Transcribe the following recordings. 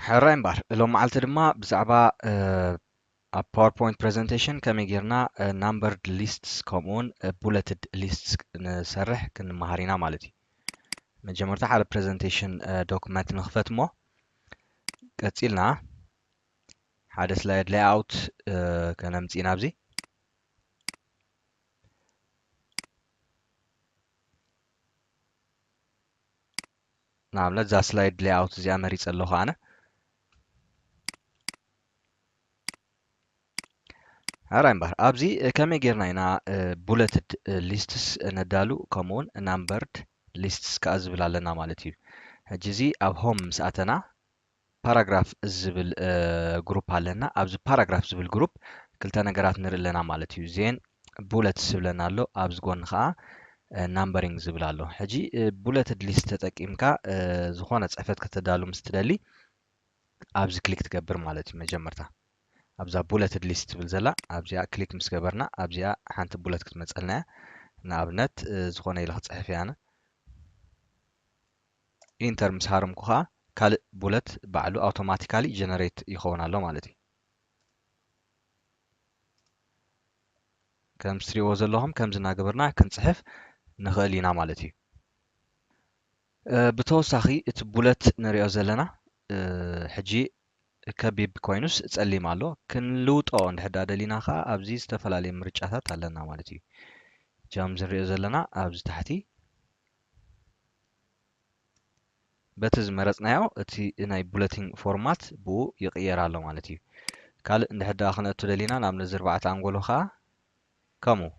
ሕራይ እምበር ሎም መዓልቲ ድማ ብዛዕባ ኣብ ፓወርፖይንት ፕሬዘንቴሽን ከመይ ጌርና ናምበርድ ሊስትስ ከምኡውን ቡለትድ ሊስትስ ንሰርሕ ክንመሃር ኢና ማለት እዩ መጀመርታ ሓደ ፕሬዘንቴሽን ዶክመንት ንክፈት እሞ ቀጺልና ሓደ ስላይድ ላይኣውት ከነምጽእ ኢና ኣብዚ ንኣብነት እዛ ስላይድ ላይኣውት እዚኣ መሪጸ ኣለኹ ኣነ ሕራይ እምበር ኣብዚ ከመይ ጌርና ኢና ቡለትድ ሊስትስ ነዳሉ ከምኡውን ናምበርድ ሊስትስ ከኣ ዝብል ኣለና ማለት እዩ ሕጂ እዚ ኣብ ሆም ምስ ኣተና ፓራግራፍ ዝብል ግሩፕ ኣለና ኣብዚ ፓራግራፍ ዝብል ግሩፕ ክልተ ነገራት ንርኢ ኣለና ማለት እዩ ዜን ቡለትስ ዝብለና ኣሎ ኣብዚ ጎኒ ከዓ ናምበሪንግ ዝብል ኣሎ ሕጂ ቡለትድ ሊስት ተጠቂምካ ዝኾነ ፅሕፈት ከተዳሉ ምስ ትደሊ ኣብዚ ክሊክ ትገብር ማለት እዩ መጀመርታ ኣብዛ ቡለትድ ሊስት ትብል ዘላ ኣብዚኣ ክሊክ ምስ ገበርና ኣብዚኣ ሓንቲ ቡለት ክትመፀልና እያ ንኣብነት ዝኾነ ኢለ ክፅሕፍ እያ ኣነ ኢንተር ምስ ሃረምኩ ከዓ ካልእ ቡለት ባዕሉ ኣውቶማቲካሊ ጀነሬት ይኸውን ኣሎ ማለት እዩ ከም ስትሪዎ ዘለኹም ከምዚ እናገበርና ክንፅሕፍ ንኽእል ኢና ማለት እዩ ብተወሳኺ እቲ ቡለት ንሪኦ ዘለና ሕጂ ከቢብ ኮይኑስ ጸሊም ኣሎ። ክንልውጦ እንድሕር ደኣ ደሊና ከኣ ኣብዚ ዝተፈላለየ ምርጫታት ኣለና ማለት እዩ። ሕጂ ከምዚ ንሪኦ ዘለና ኣብዚ ታሕቲ በቲ ዝመረጽናዮ እቲ ናይ ቡለቲንግ ፎርማት ብኡ ይቕየር ኣሎ ማለት እዩ። ካልእ እንድሕር ደኣ ክነእቱ ደሊና ናብ ነዚ ኣርባዕተ ኣንጎሎ ከኣ ከምኡ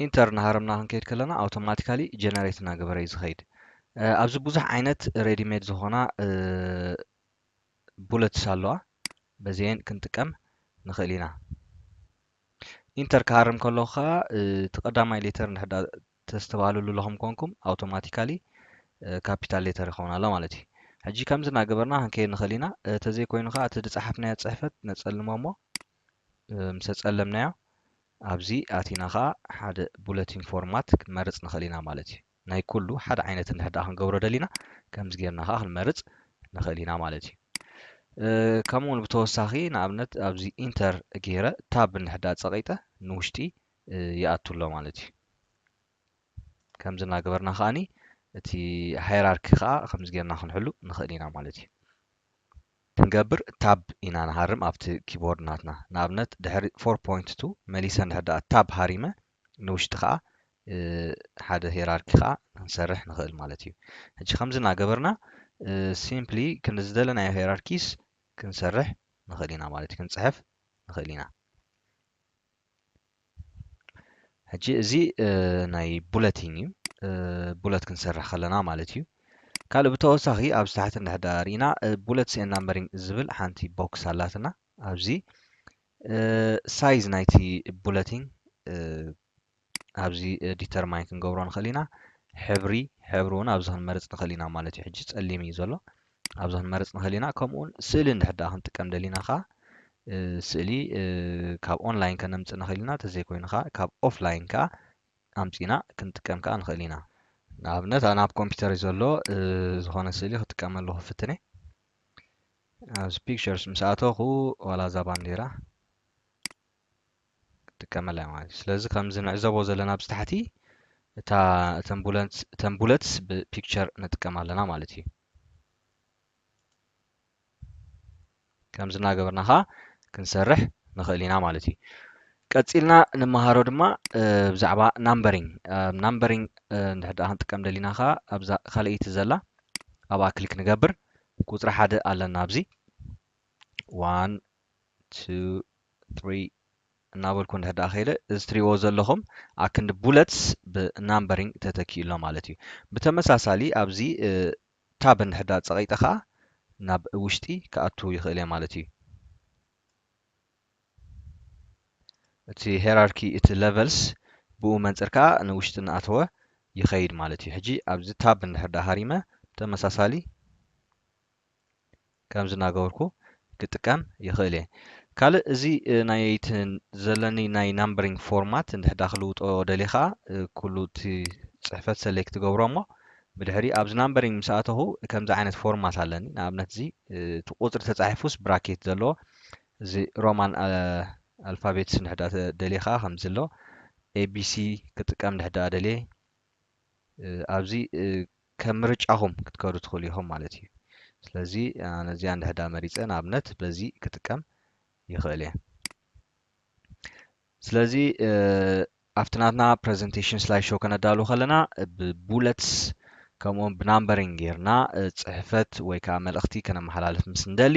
ኢንተር እናሃረምና ክንከይድ ከለና ኣውቶማቲካሊ ጀነሬት እናገበረ እዩ ዝኸይድ ኣብዚ ብዙሕ ዓይነት ሬዲሜድ ዝኾና ቡለትስ ኣለዋ በዚኤን ክንጥቀም ንኽእል ኢና ኢንተር ክሃርም ከለኹ ከዓ እቲ ቀዳማይ ሌተር ንሕዳ ተስተባህልሉ ለኹም ኮንኩም ኣውቶማቲካሊ ካፒታል ሌተር ይኸውን ኣሎ ማለት እዩ ሕጂ ከምዚ እናገበርና ክንከይድ ንኽእል ኢና ተዘይኮይኑ ከዓ እቲ ዝፀሓፍናዮ ፅሕፈት ነፀልሞ እሞ ምሰጸለምናዮ ኣብዚ ኣቲና ከኣ ሓደ ቡለቲን ፎርማት ክንመርጽ ንኽእል ኢና ማለት እዩ። ናይ ኩሉ ሓደ ዓይነት እንድሕር ደኣ ክንገብሮ ደሊና ከምዚ ጌርና ከኣ ክንመርጽ ንኽእል ኢና ማለት እዩ። ከምኡ ውን ብተወሳኺ ንኣብነት ኣብዚ ኢንተር ጌረ ታብ እንድሕር ደኣ ጸቒጠ ንውሽጢ ይኣቱ ኣሎ ማለት እዩ። ከምዚ እናገበርና ከኣ እቲ ሃይራርኪ ከኣ ከምዚ ጌርና ክንሕሉ ንኽእል ኢና ማለት እዩ። ክንገብር Tab ኢና ንሃርም ኣብቲ ኪቦርድ ናትና። ንኣብነት ድሕሪ Four Point To መሊሰ እንድሕር ደኣ Tab ሃሪመ ንውሽጢ ከኣ ሓደ ሄራርኪ ከኣ ክንሰርሕ ንኽእል ማለት እዩ። ሕጂ ከምዚ እናገበርና Simply ክንዲ ዝደለናዮ ሄራርኪስ ክንሰርሕ ንኽእል ኢና ማለት እዩ። ክንጽሕፍ ንኽእል ኢና። ሕጂ እዚ ናይ ቡለቲን እዩ ቡለት ክንሰርሕ ከለና ማለት እዩ ካልእ ብተወሳኺ ኣብዚ ታሕቲ እንድሕዳ ርኢና ቡለትስ ኤን ናምበሪንግ ዝብል ሓንቲ ቦክስ ኣላትና ኣብዚ ሳይዝ ናይቲ ቡለቲን ኣብዚ ዲተርማይን ክንገብሮ ንኽእል ኢና ሕብሪ ሕብሪ እውን ኣብዚ ክንመርፅ ንኽእል ኢና ማለት እዩ ሕጂ ፀሊም እዩ ዘሎ ኣብዛ ክንመርጽ ንኽእል ኢና ከምኡውን ስእሊ እንድሕር ደኣ ክንጥቀም ደሊና ከኣ ስእሊ ካብ ኦንላይን ከነምጽእ ንኽእል ኢና ተዘይኮይኑ ከኣ ካብ ኦፍላይን ከኣ ኣምጺና ክንጥቀም ከኣ ንኽእል ኢና ንኣብነት ኣነ ኣብ ኮምፒተር እዩ ዘሎ ዝኾነ ስእሊ ክጥቀም ኣለኹ ፍትነ ኣብዚ ፒክቸርስ ምስ ኣተኹ ዋላ እዛ ባንዴራ ክጥቀመላ እያ ማለት እዩ ስለዚ ከምዚ ንዕዘቦ ዘለና ኣብዚ ታሕቲ እታ እተን ቡለትስ ብፒክቸር ንጥቀም ኣለና ማለት እዩ ከምዚ እናገበርና ኸዓ ክንሰርሕ ንኽእል ኢና ማለት እዩ ቀፂልና ንመሃሮ ድማ ብዛዕባ ናምበሪንግ ናምበሪንግ እንድሕር ደኣ ክንጥቀም ደሊና ኸዓ ኣብዛ ካልኣይቲ ዘላ ኣብኣ ክሊክ ንገብር ቁፅሪ ሓደ ኣለና ኣብዚ ዋን ቱ ትሪ እናበልኩ እንድሕር ደኣ ከይደ እዚ ትሪእዎ ዘለኹም ኣክንዲ ቡለትስ ብናምበሪንግ ተተኪኡ ኣሎ ማለት እዩ ብተመሳሳሊ ኣብዚ ታብ እንድሕር ደኣ ፀቒጠ ከዓ ናብ ውሽጢ ክኣቱ ይኽእል እየ ማለት እዩ እቲ ሄራርኪ እቲ ለቨልስ ብኡ መንፅር ከዓ ንውሽጢ እናኣተወ ይኸይድ ማለት እዩ ሕጂ ኣብዚ ታብ እንድሕር ደኣ ሃሪመ ተመሳሳሊ ከምዚ እናገበርኩ ክጥቀም ይኽእል እየ። ካልእ እዚ ናይ እቲ ዘለኒ ናይ ናምበሪንግ ፎርማት እንድሕዳ ክልውጦ ደልየ ከዓ ኩሉ እቲ ፅሕፈት ሰሌክት ትገብሮ እሞ ብድሕሪ ኣብዚ ናምበሪንግ ምስ ኣተኹ ከምዚ ዓይነት ፎርማት ኣለኒ ንኣብነት እዚ እቲ ቁፅሪ ተፃሒፉስ ብራኬት ዘለዎ እዚ ሮማን ኣልፋቤትስ እንድሕዳ ደልየ ከዓ ከምዚ ኣሎ ኤቢሲ ክጥቀም እንድሕዳ ደልየ ኣብዚ ከም ምርጫኹም ክትከዱ ትኽእሉ ኢኹም ማለት እዩ። ስለዚ ኣነ እዚኣ እንድሕዳ መሪጸ ንኣብነት በዚ ክጥቀም ይኽእል እየ። ስለዚ ኣብቲ ናትና ፕረዘንቴሽን ስላይ ሾው ከነዳሉ ከለና ብቡለትስ ከምኡውን ብናምበሪንግ ጌርና ጽሕፈት ወይ ከዓ መልእኽቲ ከነመሓላልፍ ምስ እንደሊ